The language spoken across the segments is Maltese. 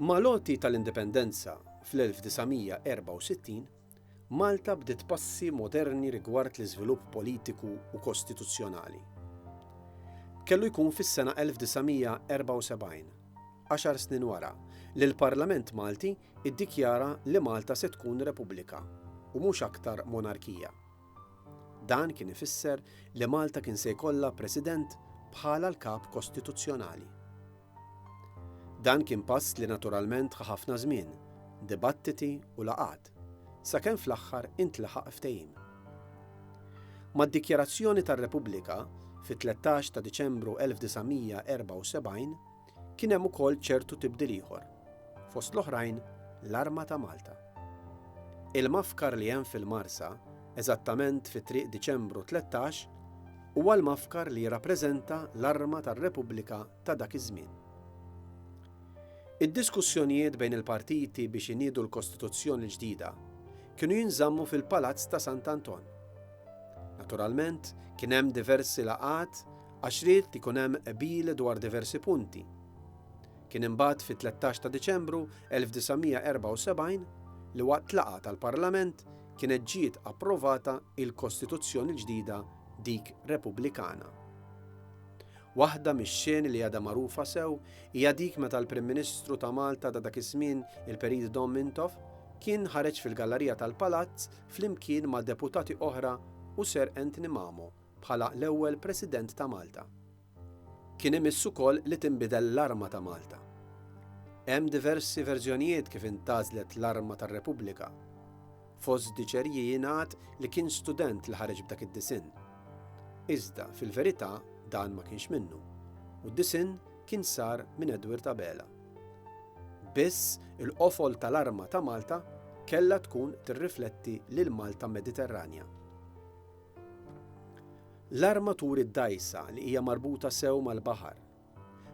Mal-għoti tal-Indipendenza fl-1964, Malta bdiet passi moderni rigward l-iżvilupp politiku u kostituzzjonali. Kellu jkun fis-sena 1974, għaxar snin wara, li l-Parlament Malti ddikjara li Malta se tkun repubblika u mhux aktar monarkija. Dan kien ifisser li Malta kien se jkollha President bħala l-Kap Kostituzzjonali. Dan kien pass li naturalment ħa ħafna żmien, dibattiti u laqgħat, sakemm fl-aħħar intlaħaq ftehim. Mad-dikjarazzjoni tar-Repubblika fit-13 ta' Diċembru 1974 kien hemm ukoll ċertu tibdil ieħor, fost l-oħrajn l-arma ta' Malta. Il-mafkar li hemm fil-Marsa eżattament fi Triq Diċembru 13, huwa l-mafkar li jirrappreżenta l-arma tar-Repubblika ta' dak iż-żmien. Id-diskussjonijiet bejn il-partiti biex iniedu l-Kostituzzjoni l-ġdida kienu jinżammu fil-Palazz ta' Sant' Anton. Naturalment, kien hemm diversi laqgħat għax ried li jkun hemm qbil dwar diversi punti. Kien imbagħad fit-13 ta' Diċembru 1974 li waqt laqgħa tal-Parlament kienet ġiet approvata il-Kostituzzjoni l-ġdida dik Repubblikana. Waħda mix-xeni li għadha magħrufa sew hija dik meta l-Prim Ministru ta' Malta ta' dak iż-żmien il-Perit Dom Mintoff kien ħareġ fil-gallarija tal-Palazz flimkien ma' deputati oħra u Sir Anthony Mamo bħala l-ewwel President ta' Malta. Kien imiss ukoll li tinbidel l-arma ta' Malta. Hemm diversi verżjonijiet kif intgħażlet l-arma tar-Repubblika. Fost diċerji jingħad li kien student li ħareġ b'dak id-disinn. Iżda, fil-verità, dan ma kienx minnu, u d-disinn kien sar minn Edward Abela. Biss, il-qofol tal-arma ta' Malta kellha tkun tirrifletti lill-Malta Mediterranja. L-armaturi dgħajsa li hija marbuta sew mal-baħar,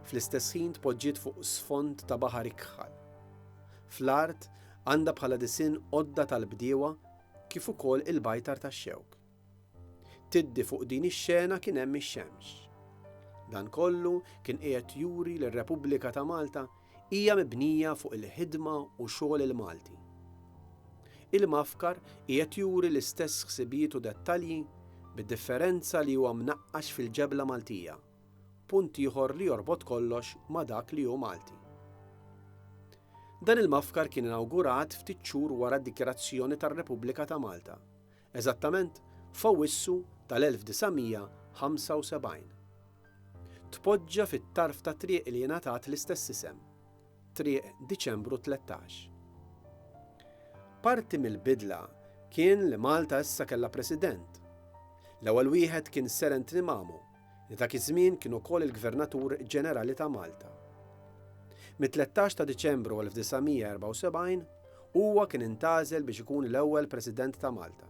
fl-istess ħin tpoġġiet fuq sfond ta' baħar ikħal. Fl-art għandha bħala disinn għodda tal-bdiewa kif ukoll il-bajtar tax-xewk. Tiddi fuq din ix-xena kien hemm ix-xemx. Dan kollu kien qiegħed juri li r-Repubblika ta' Malta Hija mibnija fuq il-ħidma u xogħol il-Malti. Il-Mafkar qiegħed juri l-istess ħsibijiet u dettalji bid-differenza li huwa mnaqqax fil-ġebla Maltija, punt ieħor li jorbot kollox ma' dak li hu Malti. Dan il-Mafkar kien inawgurat ftit xhur wara d-dikjarazzjoni tar-Repubblika ta' Malta, eżattament f'Awwissu tal-1975. Tpoġġa fit-tarf ta' triq li ingħatat l-istess isem, Triq Diċembru 13. Parti mill-bidla kien li Malta issa kellha President. L-ewwel wieħed kien Seren Trimamo, li dak iż-żmien kien ukoll il-Gvernatur Ġenerali ta' Malta. Mit-13 ta' Diċembru 1974, huwa kien intgħażel biex ikun l-ewwel President ta' Malta.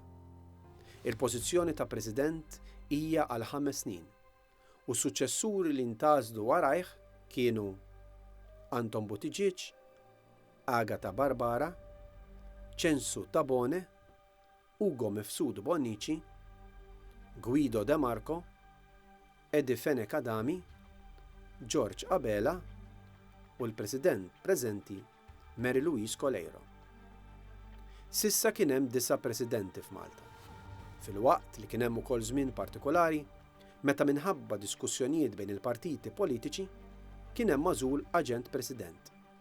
Il-pożizzjoni ta' President hija għal ħames snin, u s-suċċessuri li ntgħażlu warajh kienu Anton Buttigieg, Agata Barbara, Censu Tabone, Ugo Mifsud Bonnici, Guido De Marco, Eddie Fenech Adami, George Abela u l-President preżenti Mary Louise Coleiro. S'issa kien hemm disa' Presidenti f'Malta, filwaqt li kien hemm ukoll żmien partikolari meta minħabba diskussjonijiet bejn il-partiti politiċi kien hemm magħżul Aġent President.